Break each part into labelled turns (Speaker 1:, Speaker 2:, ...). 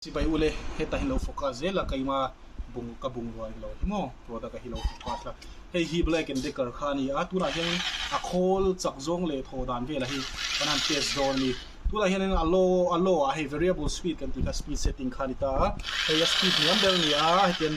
Speaker 1: Chibai ule, heta hi lo focus zel a, keima bung ka bung rual lo hi maw, product a hi lo focus a, hei hi black and decker kha a ni a, tunah hianin a khawl chak zawng leh thaw dan vel a hi kan han test dawn a ni, tunah hianin a low a low ah hei variable speed kan tih kha speed setting kha a ni ta a, hei a speed hniam ber a ni a, hetian.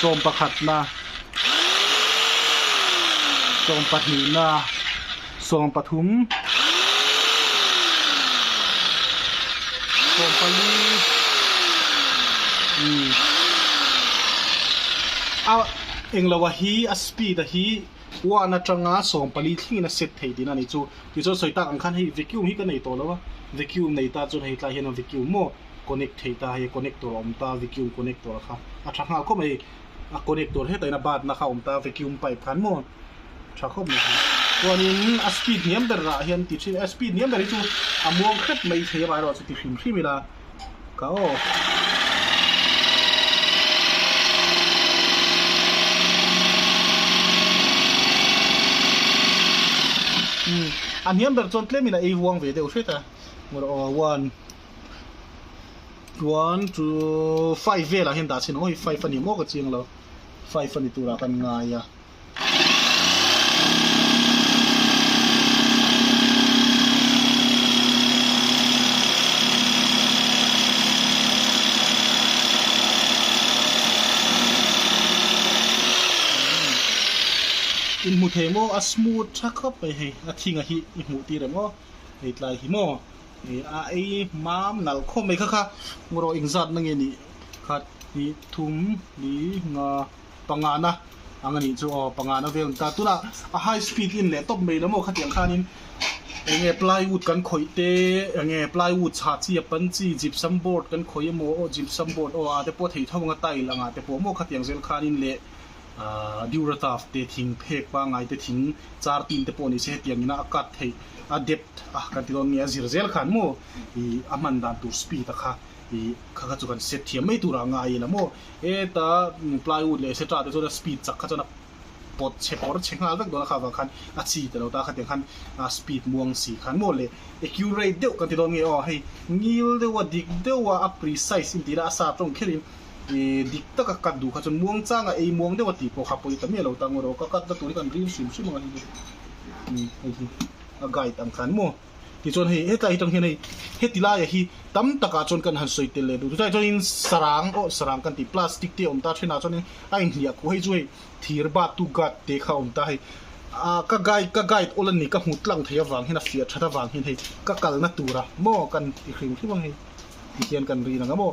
Speaker 1: sawm pakhatna sawm pahnihna sawm pathum sawm pali umm a englo a hi a speed a hi one atanga sawm pali thlengin a set thei thin a ni chu tichuan sawi tak ang khan hei vacuum hi ka nei tawh lo a vacuum nei ta chuan hei tlaiah hian vacuum maw. Connect thei ta hei connector a awm ta vacuum connector kha a tha nghal khawp mai a connector heta in a batna kha a awm ta vacuum pipe kha an maw tha khawp mai chuanin a speed hniam ber ah hian ti thin a speed hniam ber hi chu a muang hrep mai thei avai erawh chu ti hrim hrim ila ka aw a hniam ber chuan tlem in a ei huang ve deuh hret a ngaw rawh aw one one two five vel ah hian dah chin awi five ani maw ka chiang lo five ani tur ah kan ngai a in hmu thei maw a smooth tha khawp mai hei a thing ah hi i hmuh tir em aw hei tlai hi maw He a ei mam nal khawp mai kha kha rawh eng zat na nge ni khat ni thum ni nga panga na ang ani chu aw panga na vel ta tuna a high speed in leh top mai lama khatiang khan in eng nge plywood kan khawih te eng nge plywood chha chi a pan chi gypsum board kan khawih emaw gypsum board aw a te pawh thei tho anga tile anga te pawh maw khatiang zel khan in leh Durataf te thing phek pangai te thing char tin te pawh ni se hetiang in a a cut theih a depth a kan ti dawn nge a zir zel khan maw i a hman dan tur speed a kha i kha kha chu kan set thiam mai tur a ngai ila maw heta plywood leh etc te chuan a speed chak kha chuan a pawt chhe pawr chhe nghal vek dawn a kha avang khan a chi ta lo ta khatiang khan a speed muang si khan maw le accurate deuh kan ti dawn nge aw hei ngil deuh a dik deuh a a precise in tih ila a sa tawng kher in Ih dik tak a cut duh kha chuan muang chang a ei muang deuh a tih pawh kha pawh i ta miah lo ta ango rawh ka cut na tur hi kan rin hrim hrim ang a ni chu ih hei hi a guide ang than maw tichuan hei hetlai hi tang hian hei heti laia hi tam takah chuan kan han sawi tel leh duh chutah chuanin sarang aw sarang kan tih plastic te awm ta thenah chuanin a inhliah khuh hei chu hei thir battu guard te kha awm ta hei a ka guide ka guide awl a ni ka hmu tlang thei avang hian a fiah that avang hian hei ka kalna tura maw kan ti hrim hrim ang hei ti hian kan rin ang a maw.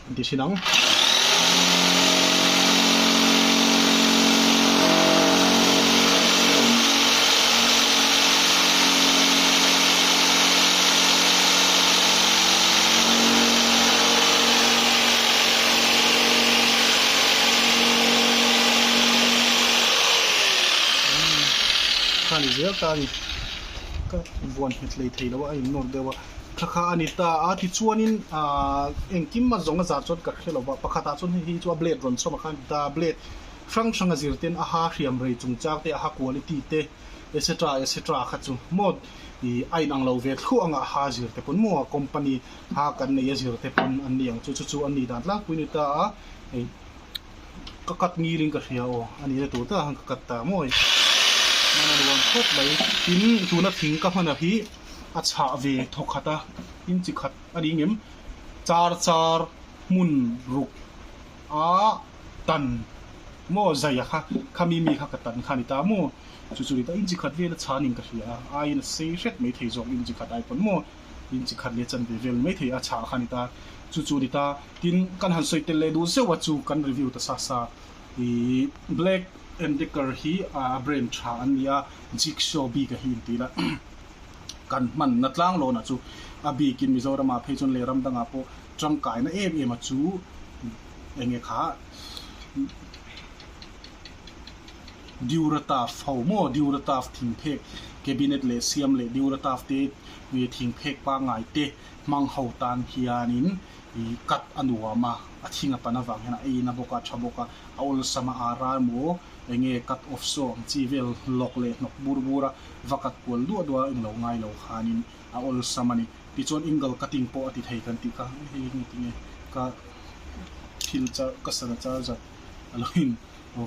Speaker 1: Kan ti sin ang. Khani zel ta a ni. Ka buan hmet lei thei lo a, a innawr deuh a. Thla kha a ni ta a, tichuanin aah engkima zawnga zar chuan ka hre lova, pakhatah chuan hei hi chu a blade rawn chawm a khan ti ta a, blade hrang hranga zir ten a ha hriam rei chungchang te, a ha quality te etc etc kha chu maw ih a inang lo ve thluah ang a, a ha zir te pawn maw a company ha kan neih a zir te pawn an ni ang chu, chu chu an nih dan tlangpui a ni ta a, hei ka cut ngil in ka hria aw a nih na tur takah khan ka cut ta maw i, a nuam khawp mai tin tuna thing ka hman ah hi. a chhah ve thaw khat a, in chi khat a ding em? Char char hmun ruk a tan maw zaia kha khami mi kha ka tan kha a ni ta maw? Chu chu a ni ta, in chi khat vel a chhan in ka hria a, aiin a sei hret mai thei zawk in chi khat ai pawn maw? In chi khat leh chan ve vel mai thei a chhah kha a ni ta, chu chu a ni ta, tin kan han sawi tel leh duh zeuh a chu kan review ta sa sa, ih Black and Decker hi a brand tha an ni a, Jigsaw bik a hi in ti ila. kan hmanna tlang lawnah chu a bikin Mizoramah phei chuan lehram dangah pawh tangkaina em em a chu eng nge kha Deurataf ho maw Deurataf thingphek cabinet leh siam leh Deurataf te thingphek pangngai te hmang ho tan hianin cut a nuam a, a thing a pan avang hian a ei in a bawk a, a tha bawk a, a awlsam a aa ral maw eng nge cut off saw ang chi vel lawk leh hnawk bur bur a va kat kual duah duah a in lo ngai lo khan in a awlsam a ni ti chuan Ingle cutting pawh a ti thei kan tih kha hei nge ti nge ka thil char ka sana char zat a lo in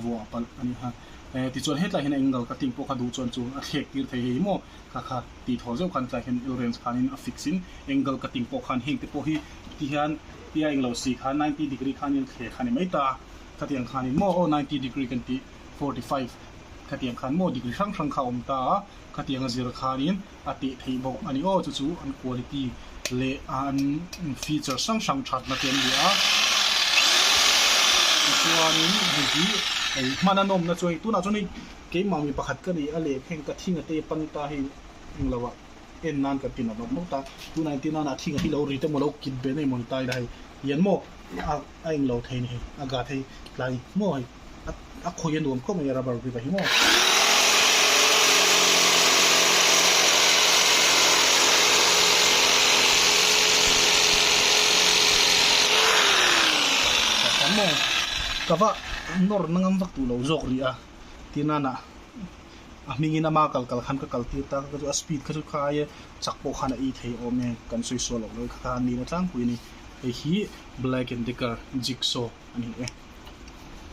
Speaker 1: vuah palh a ni kha e ti chuan hetlai hian Ingle cutting pawh kha duh chuan chu a thlek tir thei hei maw ka kha ti thaw zeuh khan tlai hian Elrens khan in a fix in Ingle cutting pawh khan heng te pawh hi ti hian tia englo si khan ninety degree khan in thleh kha ni mai ta khatiang khan in maw aw ninety degree kan tih Forty five, Khatiang khan maw degree hrang hrang kha a awm ta a, khatiang a zir khanin a teh theih bawk a ni aw, chu chu an quality leh an feature hrang hrang thatna te an ni a, tichuanin hei hi hei hman a nawmna chu hei tunah chuan hei keimah mi pakhat ka ni a leh kha heng ka thing a tei pan ta hei eng lo ah en nan kan ti nat nat maw ta, tunah en ti nana a thing a hi lo ri te maw lo kip ve nei maw ni ta ila hei hian maw a eng lo thei ni hei a gat hei tlai maw hei. a khawi a nuam khawp mai a rubber grip a hi maw. kava nawr na ngam vak tûr lo zâwk ri a tih nâna a hmingin ama kal kal khan ka kal tir ta ka chu a speed kha chu khai e chak pawh khan a ei thei awm e kan sawi sual awk mai kha khan nihna tlangpui a ni hei hi black and decker jigsaw a ni e.